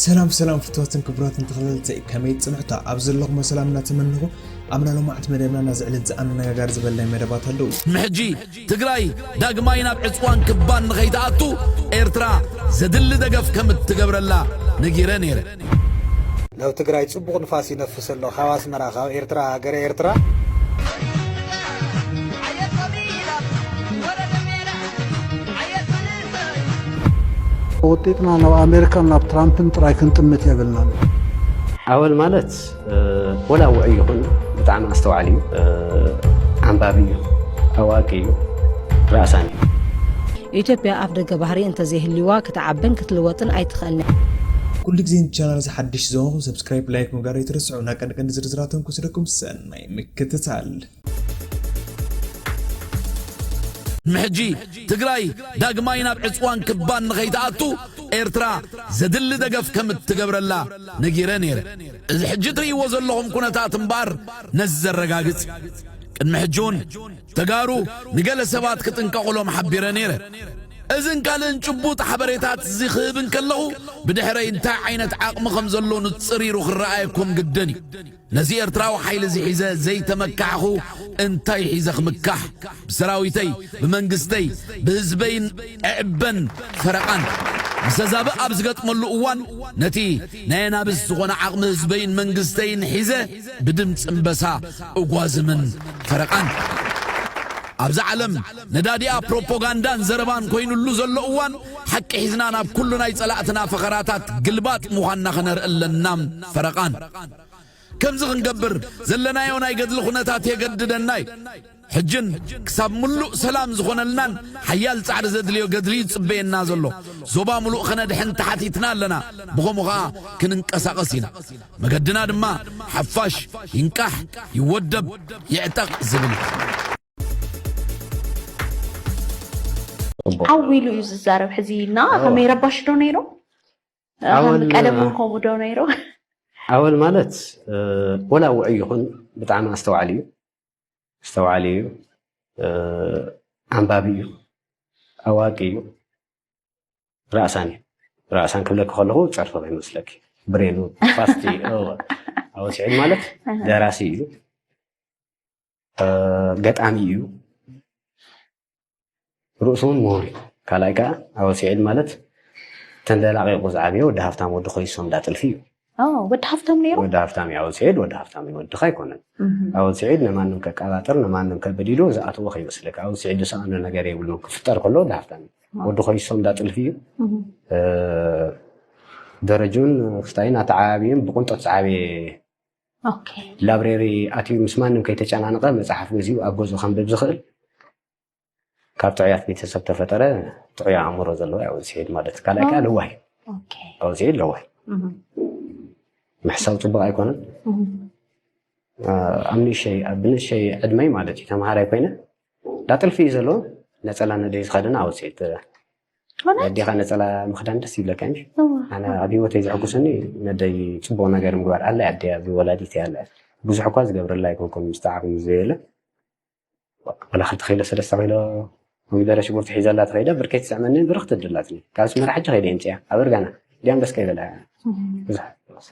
ሰላም ሰላም ፍትዋትን ክቡራትን ተኸታተልቲ ከመይ ጽንሑታ ኣብ ዘለኹሞ ሰላም እናተመነኹ ኣብና ሎማዕቲ መደብና ናዝዕልት ዝኣነጋጋሪ ዝበል ናይ መደባት ኣለዉ ንሕጂ ትግራይ ዳግማይ ናብ ዕፅዋን ክባን ንኸይትኣቱ ኤርትራ ዘድሊ ደገፍ ከም እትገብረላ ነጊረ ነይረ ናብ ትግራይ ጽቡቕ ንፋስ ይነፍስ ኣሎ ካብ ኣስመራ ካብ ኤርትራ ሃገረ ኤርትራ ወጢጥና ናብ ኣሜሪካን ናብ ትራምፕን ጥራይ ክንጥምት የብልናን። ኣወል ማለት ወላ ውዑይ ይኹን ብጣዕሚ ኣስተውዓሊ እዩ፣ ኣንባቢ እዩ፣ ኣዋቂ እዩ፣ ራእሳኒ እዩ። ኢትዮጵያ ኣፍደገ ባህሪ እንተዘይህልዩዋ ክትዓብን ክትልወጥን ኣይትኽእልን እያ። ኩሉ ግዜ ን ቻናል እዚ ሓድሽ ዝኮንኩም ሰብስክራይብ ላይክ ምግባር ኣይትረስዑ ን ቀንዲ ቀንዲ ዝርዝራት እውን ክወስደኩም ሰናይ ምክትታል። ምሕጂ ትግራይ ዳግማይ ናብ ዕጽዋን ክባን ንኸይትኣቱ ኤርትራ ዘድሊ ደገፍ ከም እትገብረላ ነጊረ ነይረ። እዚ ሕጂ ትርእይዎ ዘለኹም ኩነታት እምበኣር ነዚ ዘረጋግጽ እዩ። ቅድሚ ሕጂ እውን ተጋሩ ንገለ ሰባት ክጥንቀቑሎም ሓቢረ ነይረ። እዝን ካልእን ጭቡጥ ሓበሬታት እዚ ክህብ እንከለኹ ብድሕረይ እንታይ ዓይነት ዓቕሚ ከም ዘሎ ንጽሪሩ ክረኣየኩም ግድን እዩ። ነዚ ኤርትራዊ ሓይሊ እዚ ሒዘ ዘይተመካሕኹ እንታይ ሒዘ ክምካሕ ብሰራዊተይ ብመንግስተይ ብህዝበይን እዕበን ፈረቓን ምሰዛብእ ኣብ ዝገጥመሉ እዋን ነቲ ናይ ኣናብስ ዝኾነ ዓቕሚ ህዝበይን መንግስተይን ሒዘ ብድምጺ እምበሳ እጓዝምን ፈረቓን ኣብዛ ዓለም ነዳዲኣ ፕሮፖጋንዳን ዘረባን ኮይኑሉ ዘሎ እዋን ሓቂ ሒዝና ናብ ኩሉ ናይ ጸላእትና ፈኸራታት ግልባጥ ምዃንና ኸነርኢ ኣለና ፈረቓን ከምዚ ክንገብር ዘለናዮ ናይ ገድሊ ኩነታት የገድደና እዩ። ሕጅን ክሳብ ምሉእ ሰላም ዝኾነልናን ሓያል ጻዕሪ ዘድልዮ ገድሊ እዩ ዝጽበየና ዘሎ። ዞባ ምሉእ ከነድሕን ተሓቲትና ኣለና፣ ብኸምኡ ከኣ ክንንቀሳቐስ ኢና። መገድና ድማ ሓፋሽ ይንቃሕ፣ ይወደብ፣ ይዕጠቕ ዝብል እዩ። ዓው ኢሉ እዩ ዝዛረብ ሕዚ እና ከመይ ረባሽ ዶ ነይሮም ኣወል ቀደም እውን ከምኡ ዶ ነይሩ? ኣወል ማለት ወላ ውዑይ ይኹን ብጣዕሚ ኣስተውዓሊ እዩ ኣስተውዓሊ እዩ ኣንባቢ እዩ ኣዋቂ እዩ ራእሳን እዩ ራእሳን ክብለኪ ከለኹ ፀርፊ ከይመስለኪ ብሬኑ ፋስቲ ኣወል ስዒድ ማለት ደራሲ እዩ ገጣሚ እዩ ርእሱ እውን ምሁር እዩ ካልኣይ ከዓ ኣብ ስዒድ ማለት ተንደላቂቁ ዝዓበየ ወዲ ሃፍታም ወዲ ኮይሶም እንዳ ጥልፊ እዩ ወዲ ሃፍታም ነይሩ ወዲ ሃፍታም እዩ ኣወል ስዒድ ወዲ ሃፍታም እዩ ወድካ ኣይኮነን ኣወል ስዒድ ንማንም ከቀባጥር ንማንም ከብል ኢሉ ዝኣተዎ ከይመስለካ ኣወል ስዒድ ዝሰኣኖ ነገር የብሉ ክፍጠር ከሎ ወዲ ሃፍታም እዩ ወዲ ኮይሶም እንዳ ጥልፊ እዩ ደረጁን ክስታይን ኣተዓባቢኡን ብቁንጠት ዝዓበየ ላብሬሪ ኣትዩ ምስ ማንም ከይተጨናንቐ መፅሓፍ ገዚኡ ኣብ ገዝኡ ከንብብ ዝኽእል ካብ ጥዑያት ቤተሰብ ተፈጠረ ጥዑይ ኣእምሮ ዘለዎ ያው ዝሄድ ማለት ካልኣይ ከዓ ለዋህ ካብኡ ዝሄድ ለዋህ ምሕሳብ ፅቡቅ ኣይኮነን ኣብ ንእሸይ ኣብ ንእሸይ ዕድመይ ማለት እዩ ተምሃራይ ኮይነ ዳጥልፊ እዩ ዘለዎ ነፀላ ነደይ ዝኸደነ ኣብኡ ዝሄድ ናይ ኣዴኻ ነፀላ ምኽዳን ደስ ይብለካ እዩ ኣነ ኣብ ሂወተይ ዘሐጉሰኒ ነደይ ፅቡቅ ነገር ምግባር ኣላ ኣደ እያ ወላዲት እያ ኣላ ብዙሕ እኳ ዝገብረላ ኣይኮንኩን ምስ ተዓብን ምስ ዘየለ ወላ ክልተ ኪሎ ሰለስተ ኪሎ ኮሚደረ ሽጉርቲ ሒዘላ ተኸይደ ብርከይ ትስዕመኒ ብርኽ ትድላትኒ ካብ ስመራ ሕጂ ከይደ የምፅያ ኣብ እርጋና ዲያም ደስ ከይበላ ብዙሕ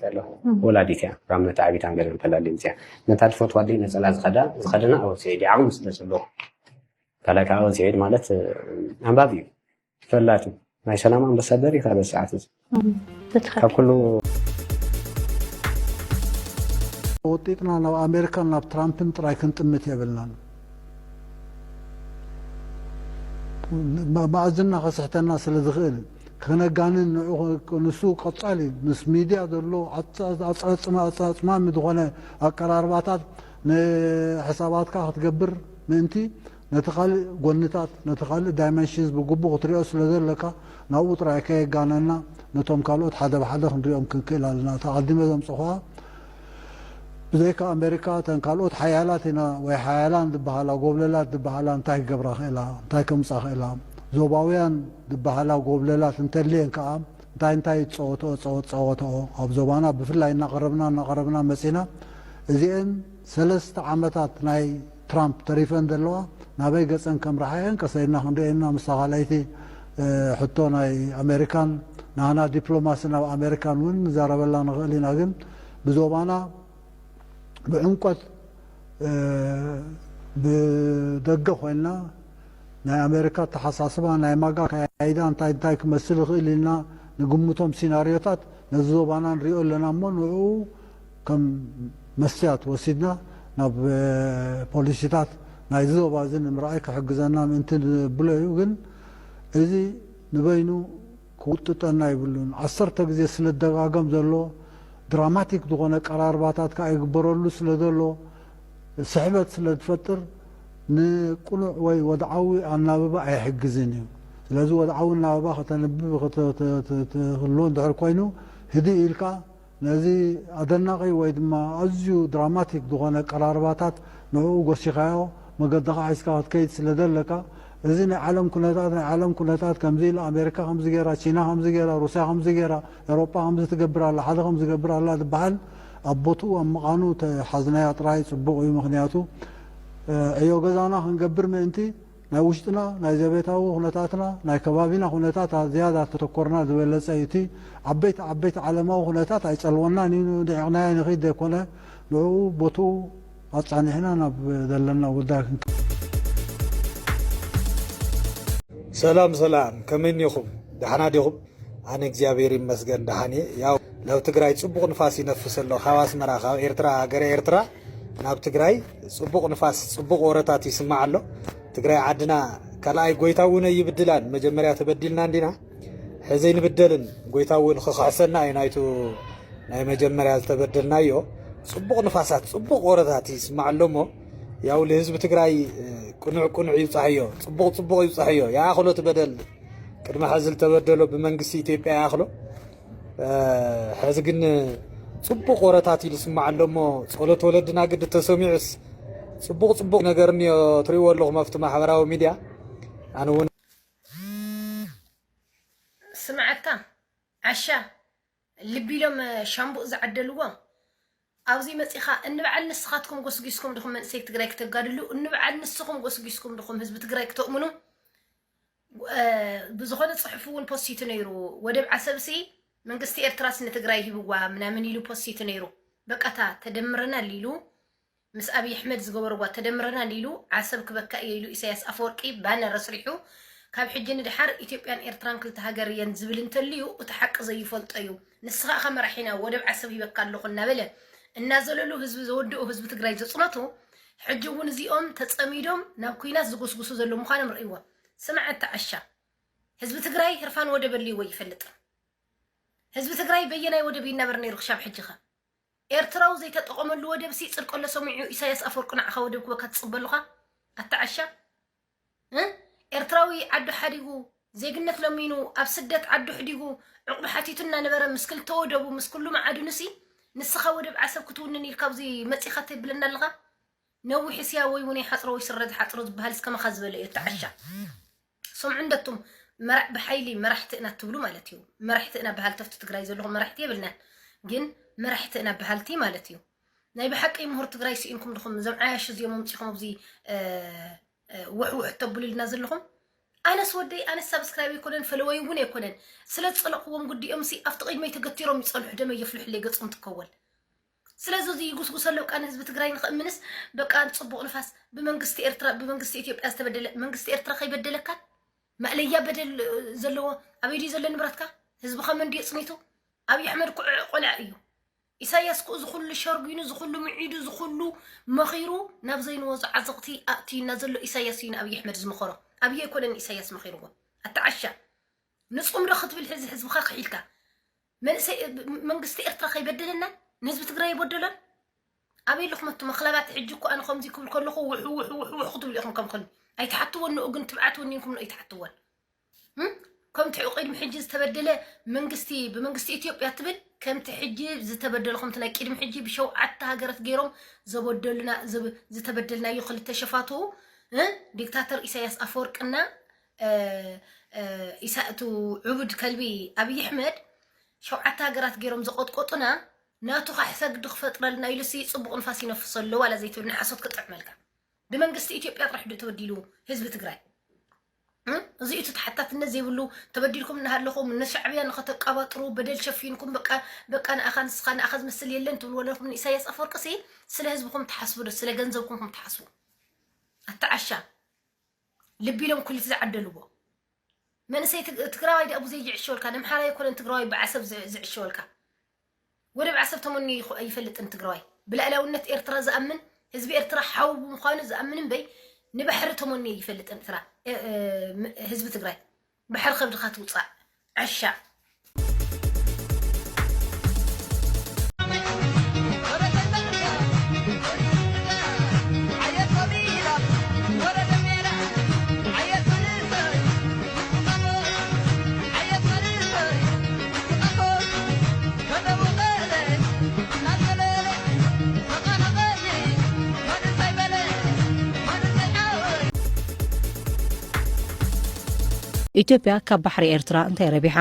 ኣለኹ ወላዲት እያ ካብ መታዓቢታ ገለ እንተላሊ የምፅያ ነታ ዝፈትዋ ኣደይ ነፀላ ዝኸዳ ዝኸደና ኣብ ወሰይ ዓቕሚ ስለ ዘለኹ ካልኣይ ከዓ ወንስዔድ ማለት ኣንባቢ እዩ ተፈላጢ ናይ ሰላም ኣምባሳደር እዩ ካልኦት ሰዓት እዚ ካብ ኩሉ ወጢጥና ናብ ኣሜሪካን ናብ ትራምፕን ጥራይ ክንጥምት የብልናን መኣዝና ከስሕተና ስለ ዝኽእል ከነጋንን ንሱ ቀጻሊ ምስ ሚድያ ዘሎ ኣጻጽማ ኣጻጽማሚ ዝኾነ ኣቀራርባታት ንሕሳባትካ ክትገብር ምእንቲ፣ ነቲ ካልእ ጎንታት፣ ነቲ ካልእ ዳይመንሽንስ ብግቡእ ክትሪኦ ስለ ዘለካ፣ ናብኡ ጥራይ ከየጋነና ነቶም ካልኦት ሓደ ብሓደ ክንሪኦም ክንክእል ኣለና። እታ ኣቐዲመ ዘምጸኹዋ ብዘይካ ኣመሪካ እተን ካልኦት ሓያላት ኢና ወይ ሓያላን ዝበሃላ ጎብለላት ዝበሃላ እንታይ ክገብራ ክእላ? እንታይ ከምጻ ክእላ? ዞባውያን ዝበሃላ ጎብለላት እንተልየን ከኣ፣ እንታይ እንታይ ዝጸወትኦ ጸወት ጻወትኦ ኣብ ዞባና ብፍላይ እናቐረብና እናቐረብና መጺና እዚኤን ሰለስተ ዓመታት ናይ ትራምፕ ተሪፈን ዘለዋ ናበይ ገጸን ከምርሓ እየን ቀሰ ኢልና ክንሪኤን ኢና ምስታ ካልኣይቲ ሕቶ ናይ ኣሜሪካን ናህና ዲፕሎማሲ ናብ ኣሜሪካን እውን ንዛረበላ ንኽእል ኢና ግን ብዞባና ብዕምቆት ብደገ ኮይንና ናይ ኣሜሪካ ኣተሓሳስባ፣ ናይ ማጋ ኣካያይዳ እንታይ እንታይ ክመስል ይኽእል ኢልና ንግምቶም ሲናርዮታት ነዚ ዞባና ንሪኦ ኣለና እሞ ንዕኡ ከም መስትያት ወሲድና ናብ ፖሊሲታት ናይዚ ዞባ እዚ ንምርኣይ ክሕግዘና ምእንቲ ንብሎ እዩ ግን እዚ ንበይኑ ክውጥጠና የብሉን ዓሰርተ ግዜ ስለደጋገም ዘሎ ድራማቲክ ዝኾነ ኣቀራርባታት ከኣ ይግበረሉ ስለዘሎ ስሕበት ስለዝፈጥር ንቅኑዕ ወይ ወድዓዊ ኣናብባ ኣይሕግዝን እዩ ስለዚ ወድዓዊ ኣናብባ ከተንብብ ከተትህሉ እንድሕር ኮይኑ ህድእ ኢልካ ነዚ ኣደናቒ ወይ ድማ ኣዝዩ ድራማቲክ ዝኾነ ኣቀራርባታት ንዕኡ ጎሲኻዮ መገድኻ ሒዝካ ክትከይድ ስለ ዘለካ እዚ ናይ ዓለም ኩነታት ናይ ዓለም ኩነታት ከምዚ ኢላ ኣሜሪካ ከምዚ ጌራ ቺና ከምዚ ጌራ ሩስያ ከምዚ ጌራ ኤሮጳ ከምዚ ትገብር ኣላ ሓደ ከምዚ ይገብር ኣላ ዝብሃል ኣብ ቦትኡ ኣብ ምቛኑ ተሓዝናያ ጥራይ ጽቡቕ እዩ ምኽንያቱ ዕዮ ገዛና ክንገብር ምእንቲ ናይ ውሽጥና ናይ ዘቤታዊ ኩነታትና ናይ ከባቢና ኩነታት ዝያዳ ተተኮርና ዝበለጸ እዩ እቲ ዓበይቲ ዓበይቲ ዓለማዊ ኩነታት ኣይጸልወናን እዩ ንዒቕናዮ ንኺድ ዘይኮነ ንዕኡ ቦትኡ ኣጻኒዕና ናብ ዘለና ጉዳይ ክንከይድ ሰላም ሰላም ከመይ እኒኩም ዳሕና ዲኩም ኣነ እግዚኣብሔር ይመስገን ደሓን እየ። ያው ናብ ትግራይ ጽቡቕ ንፋስ ይነፍስ ኣሎ ካብ ኣስመራ ካብ ኤርትራ ሃገረ ኤርትራ ናብ ትግራይ ጽቡቕ ንፋስ ጽቡቕ ወረታት ይስማዕ ኣሎ። ትግራይ ዓድና ካልኣይ ጎይታ እውን ኣይብድላን መጀመርያ ተበዲልና እንዲና ሕዚ ንብደልን ጎይታ እውን ክኽሕሰና እዩ ናይቱ ናይ መጀመርያ ዝተበደልናዮ ጽቡቕ ንፋሳት ጽቡቕ ወረታት ይስማዕ ኣሎ እሞ ያው ልህዝቢ ትግራይ ቅኑዕ ቅኑዕ ይብፃሕዮ ጽቡቕ ጽቡቕ ይብፃሕዮ ይኣኽሎ ትበደል ቅድሚ ሕዚ ዝተበደሎ ብመንግስቲ ኢትዮጵያ ይኣኽሎ ሕዚ ግን ፅቡቕ ወረታት ኢሉ ስማዕ ኣሎ እሞ ጸሎት ወለድና ግዲ ተሰሚዑስ ፅቡቕ ፅቡቕ ነገር እኒኦ ትሪእዎ ኣለኹም ኣብቲ ማሕበራዊ ሚድያ ኣነ እውን ስምዓካ ዓሻ ልቢ ኢሎም ሻምቡእ ዝዓደልዎ ኣብዚ መጺኻ እንብዓል ንስኻትኩም ጎስጊስኩም ድኹም መንእሰይ ትግራይ ክተጋድሉ እንብዓል ንስኹም ጎስጊስኩም ድኹም ህዝቢ ትግራይ ክተእምኑ ብዝኾነ ጽሑፍ እውን ፖሲቱ ነይሩ ወደብ ዓሰብሲ መንግስቲ ኤርትራስ ንትግራይ ሂብዋ ምናምን ኢሉ ፖሲቱ ነይሩ በቃታ ተደምረና ሊሉ ምስ ኣብይ ኣሕመድ ዝገበርዋ ተደምረና ሊሉ ዓሰብ ክበካ እየ ኢሉ ኢሳያስ ኣፈወርቂ ባነር ኣስሪሑ ካብ ሕጂ ንድሓር ኢትዮጵያን ኤርትራን ክልተ ሃገር እየን ዝብል እንተልዩ እቲ ሓቂ ዘይፈልጦ እዩ ንስኻ እኻ መራሒና ወደብ ዓሰብ ሂበካ ኣለኹ እናበለ እናዘለሉ ህዝቢ ዘወደኦ ህዝቢ ትግራይ ዘፅነቱ ሕጂ እውን እዚኦም ተፀሚዶም ናብ ኩናት ዝጉስጉሱ ዘሎ ምዃኖም ርእይዎ ስምዐ ተዓሻ ህዝቢ ትግራይ ህርፋን ወደብ ኣልዎ ይፈልጥን ህዝቢ ትግራይ በየናይ ወደብ ይናበር ነይሩ ክሻብ ሕጂኸ ኤርትራዊ ዘይተጠቐመሉ ወደብ ሲ ፅድቀሎ ሰሚዑ ኢሳያስ ኣፈወርቂ ንዓኻ ወደብ ክበካ ትፅበሉኻ ኣተዓሻ ኤርትራዊ ዓዱ ሓዲጉ ዜግነት ለሚኑ ኣብ ስደት ዓዱ ሕዲጉ ዕቑብ ሓቲቱ እናነበረ ምስ ክልተ ወደቡ ምስ ኩሉ መዓድኑሲ ንስኻ ወደብ ዓሰብ ክትውንን ኢልካ ኣብዚ መፂኻ ትብለና ኣለኻ ነዊሕ እስያ ወይ እውን ይሓፅሮ ወይ ስረ ዝሓፅሮ ዝበሃል እስከመኻ ዝበለ እዩ ተዓሻ ስምዑ እንደቱም መራዕ ብሓይሊ መራሕቲ ኢና ትብሉ ማለት እዩ መራሕቲ ኢና በሃልተፍቲ ትግራይ ዘለኹም መራሕቲ የብልናን ግን መራሕቲ ኢና በሃልቲ ማለት እዩ ናይ ብሓቂ ምሁር ትግራይ ስኢንኩም ድኹም እዞም ዓያሹ እዚኦም ኣምፂኹም ኣብዚ ውሕውሕ ተብሉልና ዘለኹም ኣነስ ወደይ ኣነስ ሳብስክራይብ ኣይኮነን ፈለወይ እውን ኣይኮነን ስለ ዝፀለኽዎም ጉዲኦም ሲ ኣብቲ ቅድመይ ተገቲሮም ይፀንሑ ደመ የፍልሑለይ ገፆም ትከወል ስለዚ እዚ ይጉስጉሰ ኣለዉ ቃ ንህዝቢ ትግራይ ንክእምንስ በቃ ፅቡቅ ንፋስ ብመንግስቲ ኤርትራ ብመንግስቲ ኢትዮጵያ ዝተበደለ መንግስቲ ኤርትራ ከይበደለካ ማእለያ በደል ዘለዎ ኣበይ ድዩ ዘሎ ንብረትካ ህዝብኻ መን ድዩ ፅኒቱ ኣብዪ ኣሕመድ ቆልዓ እዩ ኢሳያስ እኮ እዚ ኩሉ ሸርጒኑ እዚ ኩሉ ምዒዱ እዚ ኩሉ መኺሩ ናብ ዘይንወጾ ዓዘቕቲ ኣእትዩና ዘሎ ኢሳያስ እዩ ንኣብይ ኣሕመድ ዝመኸሮ ኣብይ ኣይኮነን ንኢሳያስ መኺርዎ ኣታ ዓሻ ንጹምሪ ክትብል ሕዚ ህዝብኻ ክሒልካ መንእሰይ መንግስቲ ኤርትራ ከይበደለና ንህዝቢ ትግራይ ይበደሎን ኣበይ ኣለኹም ኣቱም ኣኽላባት ሕጂ እኮ ኣነ ከምዚ ክብል ከለኹ ውሕ ውሕ ውሕ ውሕ ክትብሉ ኢኹም ከም ከልቢ ኣይትሓትወን ንኡ ግን ትብዓት ወኒንኩም ንኡ ኣይትሓትወን ከምቲ ቅድሚ ሕጂ ዝተበደለ መንግስቲ ብመንግስቲ ኢትዮጵያ ትብል ከምቲ ሕጂ ዝተበደለ ከምቲ ናይ ቅድሚ ሕጂ ብሸውዓተ ሃገረት ገይሮም ዘበደሉና ዘብ- ዝተበደልናዮ ክልተ ሸፋቱ እ? ዲክታተር ኢሳያስ ኣፈወርቅና እ፣ እ፣ ኢሳ- እቱ ዕቡድ ከልቢ ኣብይ ኣሕመድ ሸውዓተ ሃገራት ገይሮም ዘቆጥቆጡና ናቱ ካሕ ሰግዲ ክፈጥረልና ኢሉ ሲ ፅቡቅ ንፋስ ይነፍሶ ኣሎ ዋላ ዘይትብል ንሓሶት ክጥዕመልካ ብመንግስቲ ኢትዮጵያ ጥራሕ ዶ ተበዲሉ ህዝቢ ትግራይ እዚ እቲ ተሓታትነት ዘይብሉ ተበዲልኩም እናሃለኹም ንሻዕብያ ንኸተቀባጥሩ በደል ሸፊንኩም በቃ በቃ ንኣኻ ንስኻ ንኣኻ ዝመስል የለን ትብሉ ወለኹም ንኢሳያስ ኣፈወርቂ ሲ ስለ ህዝብኹም ትሓስቡ ዶ ስለ ገንዘብኩም ኩም ትሓስቡ ኣተዓሻ ልቢ ኢሎም ኩሊት ዝዓደልዎ መንእሰይ ትግራዋይ ዳኣ ብዙይ ይዕሸወልካ ንምሓራ ይኮነን ትግራዋይ ብዓሰብ ዝዕሸወልካ ወደብ ዓሰብ ተመንዩ ኣይፈልጥን ትግራዋይ። ብልኣላውነት ኤርትራ ዝኣምን ህዝቢ ኤርትራ ሓው ብምዃኑ ዝኣምን እምበይ ንባሕሪ ተመንዩ ኣይፈልጥን እትራ ህዝቢ ትግራይ። ባሕሪ ከብድኻ ትውጻእ ዓሻ። ኢትዮጵያ ካብ ባሕሪ ኤርትራ እንታይ ረቢሓ?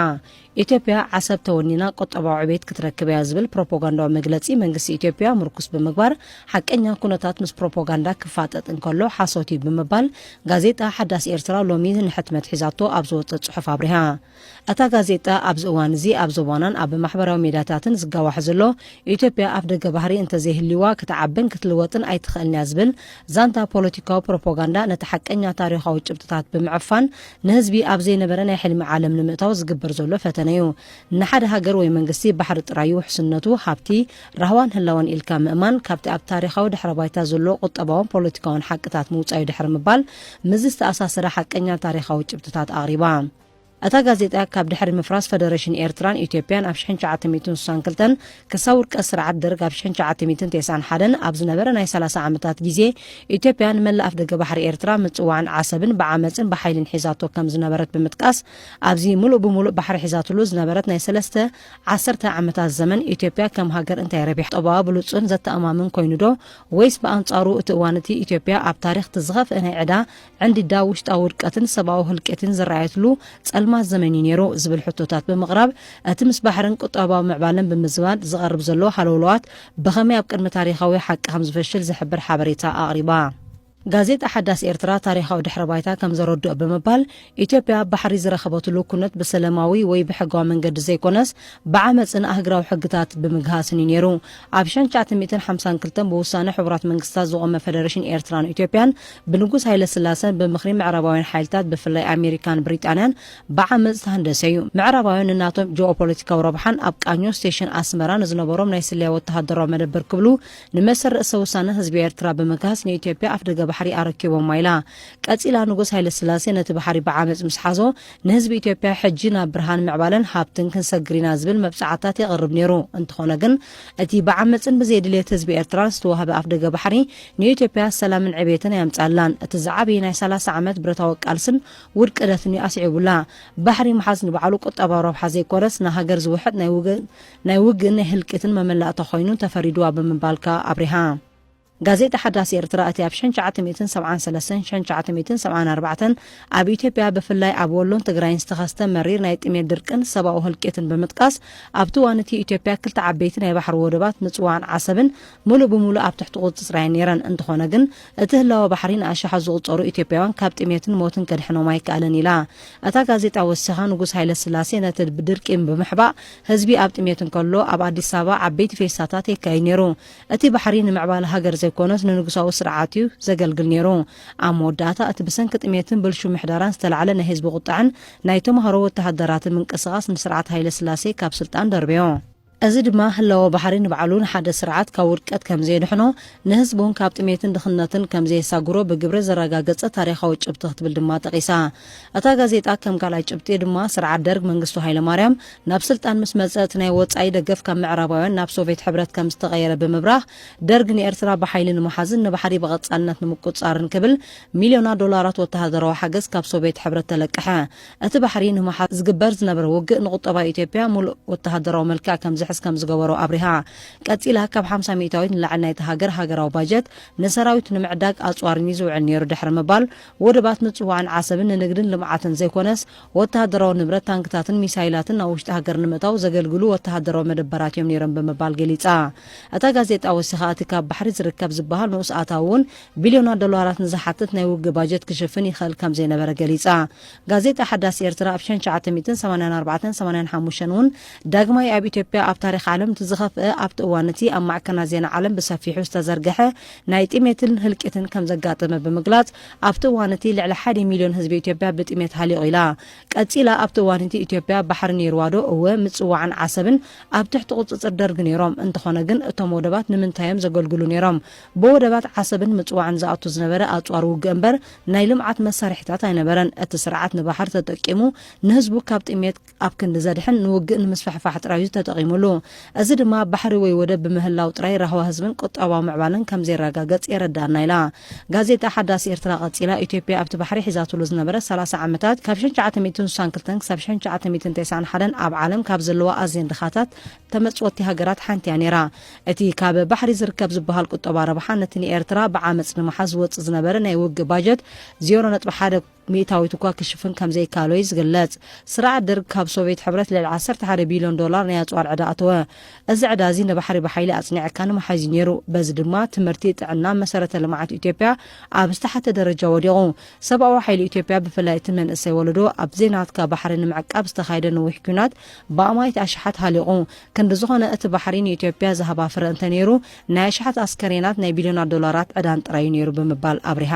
ኢትዮጵያ ዓሰብ ተወኒና ቁጠባዊ ዕቤት ክትረክብ እያ ዝብል ፕሮፓጋንዳዊ መግለጺ መንግስቲ ኢትዮጵያ ምርኩስ ብምግባር ሓቀኛ ኩነታት ምስ ፕሮፓጋንዳ ክፋጠጥ እንከሎ ሓሶት እዩ ብምባል ጋዜጣ ሓዳስ ኤርትራ ሎሚ ንሕትመት ሒዛቶ ኣብ ዝወጸ ጽሑፍ ኣብሪሃ። እታ ጋዜጣ ኣብዚ እዋን እዚ ኣብ ዞባናን ኣብ ማሕበራዊ ሜዳታትን ዝጋዋሕ ዘሎ ኢትዮጵያ ኣፍደገ ባህሪ እንተዘይህልዩዋ ክትዓብን ክትልወጥን ኣይትኽእልን እያ ዝብል ዛንታ ፖለቲካዊ ፕሮፖጋንዳ ነቲ ሓቀኛ ታሪኻዊ ጭብጥታት ብምዕፋን ንህዝቢ ኣብ ዘይነበረ ናይ ሕልሚ ዓለም ንምእታው ዝግበር ዘሎ ፈተነ እዩ። ንሓደ ሃገር ወይ መንግስቲ ባሕሪ ጥራይ እዩ ውሕስነቱ፣ ሃብቲ፣ ራህዋን ህላወን ኢልካ ምእማን ካብቲ ኣብ ታሪኻዊ ድሕረ ባይታ ዘሎ ቁጠባውን ፖለቲካውን ሓቅታት ምውጻእ'ዩ ድሕሪ ምባል ምስዚ ዝተኣሳሰረ ሓቀኛ ታሪኻዊ ጭብጥታት ኣቕሪባ። እታ ጋዜጣ ካብ ድሕሪ ምፍራስ ፈደረሽን ኤርትራን ኢትዮጵያን ኣብ ሽሕን ትሽዓተ ሚእትን ስሳን ክልተን ክሳብ ውድቀት ስርዓት ደርግ ኣብ ሽሕን ትሽዓተ ሚእትን ቴስዓን ሓደን ኣብ ዝነበረ ናይ ሰላሳ ዓመታት ጊዜ ኢትዮጵያ ንመላእ ኣፍደገ ባሕሪ ኤርትራ ምጽዋዕን ዓሰብን ብዓመጽን ብሓይልን ሒዛቶ ከም ዝነበረት ብምጥቃስ ኣብዚ ምሉእ ብምሉእ ባሕሪ ሒዛትሉ ዝነበረት ናይ ሰለስተ ዓሰርተ ዓመታት ዘመን ኢትዮጵያ ከም ሃገር እንታይ ረቢሓ? ጠባዋ ብሉጽን ዘተኣማምን ኮይኑዶ ወይስ ብኣንጻሩ እቲ እዋን እቲ ኢትዮጵያ ኣብ ታሪኽ እቲ ዝኸፍኤ ናይ ዕዳ ዕንዲዳ ውሽጣዊ ውድቀትን ሰብኣዊ ህልቂትን ዝረኣየትሉ ጸልማት ዘመን እዩ ነይሩ ዝብል ሕቶታት ብምቕራብ እቲ ምስ ባሕርን ቁጠባዊ ምዕባለን ብምዝማድ ዝቐርብ ዘሎ ሃለውለዋት ብኸመይ ኣብ ቅድሚ ታሪኻዊ ሓቂ ከም ዝፈሽል ዝሕብር ሓበሬታ ኣቕሪባ። ጋዜጣ ሓዳስ ኤርትራ ታሪኻዊ ድሕረ ባይታ ከም ዘረድኦ ብምባል፣ ኢትዮጵያ ባሕሪ ዝረኸበትሉ ኩነት ብሰለማዊ ወይ ብሕጋዊ መንገዲ ዘይኮነስ ብዓመጽን ኣህግራዊ ሕግታት ብምግሃስን እዩ ነይሩ። ኣብ ሽሕን ትሽዓተ ሚእትን ሓምሳን ክልተን ብውሳነ ሕቡራት መንግስታት ዝቖመ ፈደረሽን ኤርትራን ኢትዮጵያን ብንጉስ ሃይለስላሰን ብምኽሪ ምዕራባውያን ሓይልታት ብፍላይ ኣሜሪካን ብሪጣንያን ብዓመጽ ዝተሃንደሰ እዩ። ምዕራባውያን ንናቶም ጂኦፖለቲካዊ ረብሓን ኣብ ቃኞ ስቴሽን ኣስመራ ንዝነበሮም ናይ ስለያ ወተሃደራዊ መደበር ክብሉ ንመሰል ርእሰ ውሳነ ህዝቢ ኤርትራ ብምግሃስ ንኢትዮጵያ ኣፍደገ ባሕሪ ኣረኪቦማ ኢላ። ቀጺላ ንጉስ ሃይለስላሴ ነቲ ባሕሪ ብዓመጽ ምስ ሓዞ ንህዝቢ ኢትዮጵያ ሕጂ ናብ ብርሃን ምዕባለን ሃብትን ክንሰግር ኢና ዝብል መብጽዓታት የቕርብ ነይሩ። እንተኾነ ግን እቲ ብዓመጽን ብዘይድልየት ህዝቢ ኤርትራን ዝተዋህበ ኣፍደገ ባሕሪ ንኢትዮጵያ ሰላምን ዕብየትን ኣየምጽኣላን። እቲ ዝዓብይ ናይ ሰላሳ ዓመት ብረታዊ ቃልስን ውድቅደትን'ዩ ኣስዒቡላ። ባሕሪ ምሓዝ ንባዕሉ ቁጠባዊ ረብሓ ዘይኮነስ ንሃገር ዝውሕጥ ናይ ናይ ውግእን ናይ ህልቂትን መመላእታ ኮይኑ ተፈሪዱዋ ብምባል ከኣ ኣብሪሃ። ጋዜጣ ሓዳስ ኤርትራ እቲ ኣብ ሽሕን ትሽዓተ ሚእትን ሰብዓን ሰለስተን ሽሕን ትሽዓተ ሚእትን ሰብዓን ኣርባዕተን ኣብ ኢትዮጵያ ብፍላይ ኣብ ወሎን ትግራይን ዝተኸስተ መሪር ናይ ጥሜት ድርቅን ሰብኣዊ ህልቂትን ብምጥቃስ ኣብቲ እዋን እቲ ኢትዮጵያ ክልተ ዓበይቲ ናይ ባሕሪ ወደባት ምጽዋዕን ዓሰብን ሙሉእ ብሙሉእ ኣብ ትሕቲ ቁፅፅራይ ነይረን፣ እንተኾነ ግን እቲ ህላወ ባሕሪ ንኣሻሓት ዝቑፀሩ ኢትዮጵያውያን ካብ ጥሜትን ሞትን ከድሕኖም ኣይከኣለን ኢላ። እታ ጋዜጣ ወሲኻ ንጉስ ሃይለስላሴ ነቲ ድርቂ ብምሕባእ ህዝቢ ኣብ ጥሜት እንከሎ ኣብ ኣዲስ ኣበባ ዓበይቲ ፌስታታት የካይድ ነይሩ። እቲ ባሕሪ ንምዕባለ ሃገር ዘይኮነስ ንንጉሳዊ ስርዓት እዩ ዘገልግል ነይሩ። ኣብ መወዳእታ እቲ ብሰንኪ ጥሜትን ብልሹው ምሕደራን ዝተላዕለ ናይ ህዝቢ ቁጠዐን ናይ ተምሃሮ ወተሃደራትን ምንቅስቓስ ንስርዓት ሃይለስላሴ ካብ ስልጣን ደርበዮ። እዚ ድማ ህላወ ባሕሪ ንባዕሉ ንሓደ ስርዓት ካብ ውድቀት ከም ዜድሕኖ፣ ንህዝቡን ካብ ጥሜትን ድኽነትን ከም ዘየሳግሮ ብግብሪ ዘረጋገጸ ታሪኻዊ ጭብጢ ክትብል ድማ ጠቒሳ። እታ ጋዜጣ ከም ካልኣይ ጭብጢ ድማ ስርዓት ደርግ መንግስቱ ሃይለማርያም ናብ ስልጣን ምስ መጸ እቲ ናይ ወጻኢ ደገፍ ካብ ምዕራባውያን ናብ ሶቬት ሕብረት ከም ዝተቐየረ ብምብራህ ደርግ ንኤርትራ ብሓይሊ ንምሓዝን ንባሕሪ ብቐጻልነት ንምቁጽጻርን ክብል ሚልዮናት ዶላራት ወተሃደራዊ ሓገዝ ካብ ሶቬት ሕብረት ተለቀሐ። እቲ ባሕሪ ንምሓዝ ዝግበር ዝነበረ ውግእ ንቁጠባ ኢትዮጵያ ሙሉእ ወተሃደራዊ መልክዕ ከምዝሕዝ ከምዝገበሮ ኣብሪሃ። ቀጺላ ካብ ሓምሳ ሚእታዊት ንላዕሊ ናይታ ሃገር ሃገራዊ ባጀት ንሰራዊት ንምዕዳግ ኣጽዋርን እዩ ዝውዕል ነይሩ ድሕሪ ምባል፣ ወደባት ምጽዋዕን ዓሰብን ንንግድን ልምዓትን ዘይኮነስ ወተሃደራዊ ንብረት ታንክታትን ሚሳይላትን ናብ ውሽጢ ሃገር ንምእታው ዘገልግሉ ወተሃደራዊ መደበራት እዮም ነይሮም ብምባል ገሊጻ። እታ ጋዜጣ ወሲኻ እቲ ካብ ባሕሪ ዝርከብ ዝበሃል ንኡስ ኣታዊ'ውን ቢልዮናት ዶላራት ንዝሓትት ናይ ውግእ ባጀት ክሽፍን ይኽእል ከምዘይነበረ ገሊጻ። ጋዜጣ ሓዳስ ኤርትራ ኣብ ሸን ትሽዓተ ሚእትን ሰማንያን ኣርባዕተን ሰማንያን ሓሙሽተን እውን ዳግማይ ኣብ ኢትዮጵያ ኣብ ታሪኽ ዓለም እቲ ዝኸፍኣ ኣብቲ እዋን እቲ ኣብ ማዕከናት ዜና ዓለም ብሰፊሑ ዝተዘርገሐ ናይ ጥሜትን ህልቂትን ከም ዘጋጠመ ብምግላጽ ኣብቲ እዋን እቲ ልዕሊ ሓደ ሚልዮን ህዝቢ ኢትዮጵያ ብጥሜት ሃሊቑ ኢላ። ቀጺላ ኣብቲ እዋን እቲ ኢትዮጵያ ባሕሪ ነይሩዋዶ? እወ፣ ምጽዋዕን ዓሰብን ኣብ ትሕቲ ቁጽጽር ደርግ ነይሮም፣ እንተኾነ ግን እቶም ወደባት ንምንታይ'ዮም ዘገልግሉ ነይሮም? ብወደባት ዓሰብን ምጽዋዕን ዝኣቱ ዝነበረ ኣጽዋር ውግእ እምበር ናይ ልምዓት መሳርሒታት ኣይነበረን። እቲ ስርዓት ንባሕር ተጠቂሙ ንህዝቡ ካብ ጥምየት ኣብ ክንዲ ዘድሕን ንውግእ ንምስፍሕፋሕ ጥራይ'ዩ ተጠቒሙሉ። እዚ ድማ ባሕሪ ወይ ወደብ ብምህላው ጥራይ ራህዋ ህዝብን ቁጠባዊ ምዕባለን ከም ዘይረጋገጽ የረድኣና ኢላ ጋዜጣ ሓዳስ ኤርትራ ቀጺላ ኢትዮጵያ ኣብቲ ባሕሪ ሒዛትሉ ዝነበረት ሰላሳ ዓመታት ካብ ሽሕን ትሽዓተ ሚእትን ስሳን ክልተን ክሳብ ሽሕን ትሽዓተ ሚእትን ተስዓን ሓደን ኣብ ዓለም ካብ ዘለዋ ኣዝየን ድኻታት ተመጽወቲ ሃገራት ሓንቲ እያ ነይራ። እቲ ካብ ባሕሪ ዝርከብ ዝበሃል ቁጠባ ረብሓ ነቲ ንኤርትራ ብዓመጽ ንምሓዝ ዝወጽእ ዝነበረ ናይ ውግእ ባጀት ዜሮ ነጥቢ ሓደ ሚእታዊት እኳ ክሽፍን ከም ዘይከኣሎ እዩ ዝግለጽ። ስርዓት ደርግ ካብ ሶቭየት ሕብረት ልዕሊ ዓሰርተ ሓደ ቢልዮን ዶላር ናይ ኣጽዋር ዕዳ ኣተወ። እዚ ዕዳ እዚ ንባሕሪ ብሓይሊ ኣጽኒዕካ ንምሓዝ እዩ ነይሩ። በዚ ድማ ትምህርቲ፣ ጥዕና፣ መሰረተ ልምዓት ኢትዮጵያ ኣብ ዝተሓተ ደረጃ ወዲቑ። ሰብኣዊ ሓይሊ ኢትዮጵያ ብፍላይ እቲ መንእሰይ ወለዶ ኣብ ዘይናትካ ባሕሪ ንምዕቃብ ዝተኻየደ ነዊሕ ኲናት ብኣማኢት ኣሽሓት ሃሊቑ። ክንዲ ዝኾነ እቲ ባሕሪ ንኢትዮጵያ ዝሃባ ፍረ እንተ ነይሩ ናይ ኣሽሓት ኣስከሬናት ናይ ቢልዮናት ዶላራት ዕዳን ጥራዩ ነይሩ ብምባል ኣብሪሃ።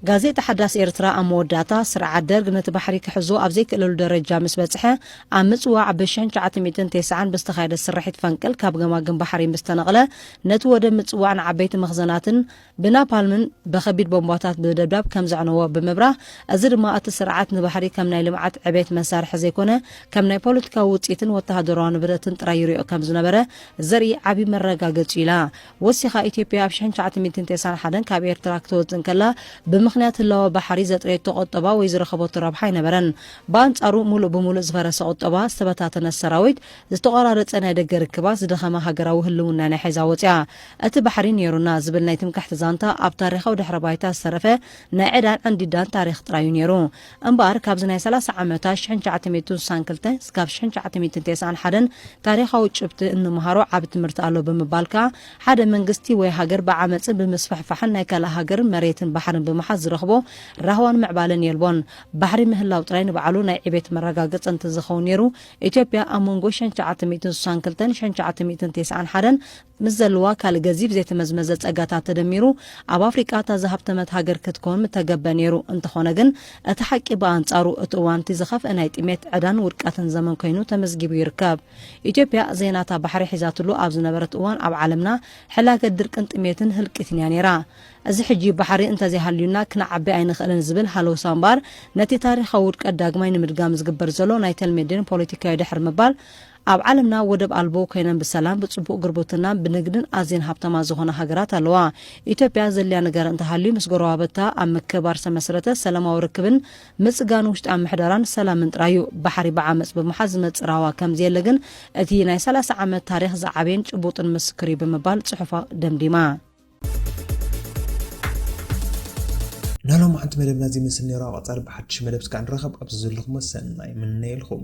ጋዜጣ ሓዳስ ኤርትራ ኣብ መወዳእታ፣ ስርዓት ደርግ ነቲ ባሕሪ ክሕዞ ኣብ ዘይክእለሉ ደረጃ ምስ በጽሐ፣ ኣብ ምጽዋዕ ብ ሽሕን ትሽዓተ ሚእትን ቴስዓን ብዝተኻየደ ስርሒት ፈንቅል ካብ ገማግም ባሕሪ ምስ ተነቕለ፣ ነቲ ወደብ ምጽዋዕን ዓበይቲ መኽዘናትን፣ ብናፓልምን ብከቢድ ቦምባታት ብደብዳብ ከም ዘዕነዎ ብምብራህ፣ እዚ ድማ እቲ ስርዓት ንባሕሪ ከም ናይ ልምዓት ዕቤት መሳርሒ ዘይኮነ ከም ናይ ፖለቲካዊ ውጽኢትን ወተሃደራዊ ንብረትን ጥራይ ይሪኦ ከም ዝነበረ ዘርኢ ዓቢ መረጋገጺ'ዩ ኢላ። ወሲኻ ኢትዮጵያ ኣብ ሽሕን ትሽዓተ ሚእትን ቴስዓን ሓደን ካብ ኤርትራ ክትወጽእ እንከላ ብምኽንያት ህላወ ባሕሪ ዘጥረየቶ ቁጠባ ወይ ዝረኸበቶ ረብሓ ኣይነበረን። ብኣንጻሩ ምሉእ ብምሉእ ዝፈረሰ ቁጠባ፣ ዝተበታተነ ሰራዊት፣ ዝተቖራረጸ ናይ ደገ ርክባት፣ ዝደኸመ ሃገራዊ ህልውና ናይ ሒዛ ወጺኣ። እቲ ባሕሪ ነይሩና ዝብል ናይ ትምክሕቲ ዛንታ ኣብ ታሪኻዊ ድሕረ ባይታ ዝተረፈ ናይ ዕዳን ዕንዲዳን ታሪኽ ጥራይ እዩ ነይሩ። እምበኣር ካብዚ ናይ ሰላሳ ዓመታ ሽሕን ትሽዓተ ሚእትን ስሳን ክልተ ስካብ ሽሕን ትሽዓተ ሚእትን ቴስዓን ሓደን ታሪኻዊ ጭብቲ እንመሃሮ ዓቢ ትምህርቲ ኣሎ ብምባል ከኣ ሓደ መንግስቲ ወይ ሃገር ብዓመጽን ብምስፍሕፋሕን ናይ ካልእ ሃገር መሬትን ባሕርን ብምሓዝ ዝረኽቦ ራህዋን ምዕባለን የልቦን። ባሕሪ ምህላው ጥራይ ንባዕሉ ናይ ዕቤት መረጋገጺ እንተዝኸውን ነይሩ ኢትዮጵያ ኣብ መንጎ ሽሕን ትሽዓተ ሚእትን ስሳን ክልተን ሽሕን ትሽዓተ ሚእትን ቴስዓን ሓደን ምስ ዘለዋ ካልእ ገዚፍ ዘይተመዝመዘ ጸጋታት ተደሚሩ፣ ኣብ ኣፍሪቃ እታ ዝሃብተመት ሃገር ክትከውን ምተገብበ ነይሩ። እንተኾነ ግን፣ እቲ ሓቂ ብኣንጻሩ፣ እቲ እዋን እቲ ዝኸፍኤ ናይ ጥሜት፣ ዕዳን ውድቀትን ዘመን ኮይኑ ተመዝጊቡ ይርከብ። ኢትዮጵያ ዘይናታ ባሕሪ ሒዛትሉ ኣብ ዝነበረት እዋን ኣብ ዓለምና ሕላገት ድርቅን ጥሜትን ህልቂትን እያ ነይራ። እዚ ሕጂ ባሕሪ እንተዘይሃልዩና ክንዓቢ ኣይንኽእልን ዝብል ሃለውሳ እምበኣር፣ ነቲ ታሪኻዊ ውድቀት ዳግማይ ንምድጋም ዝግበር ዘሎ ናይ ተልሜዴን ፖለቲካዮ ድሕር ምባል፣ ኣብ ዓለምና ወደብ ኣልቦ ኮይነን ብሰላም ብጽቡቕ ግርቡትናን ብንግድን ኣዝየን ሃብታማት ዝኾና ሃገራት ኣለዋ። ኢትዮጵያ ዘድልያ ነገር እንተሃልዩ ምስ ጎረባብታ ኣብ ምክብባር ዝተመስረተ ሰላማዊ ርክብን ምጽጋን ውሽጣዊ ምሕደራን ሰላምን ጥራይ'ዩ። ባሕሪ ብዓመጽ ብምሓዝ ዝመጽእ ራህዋ ከምዘየለ ግን እቲ ናይ ሰላሳ ዓመት ታሪኽ ዝዓበየን ጭቡጥን ምስክር'ዩ ብምባል ጽሑፋ ደምዲማ። ናይ ሎማዓንቲ መደብና እዚ ይመስል ነይሩ ኣብ ቐፃሊ ብሓዱሽ መደብ እስካዕ ንራኸብ ኣብዚ ዘለኹሞ ሰናይ ይምነየልኹም።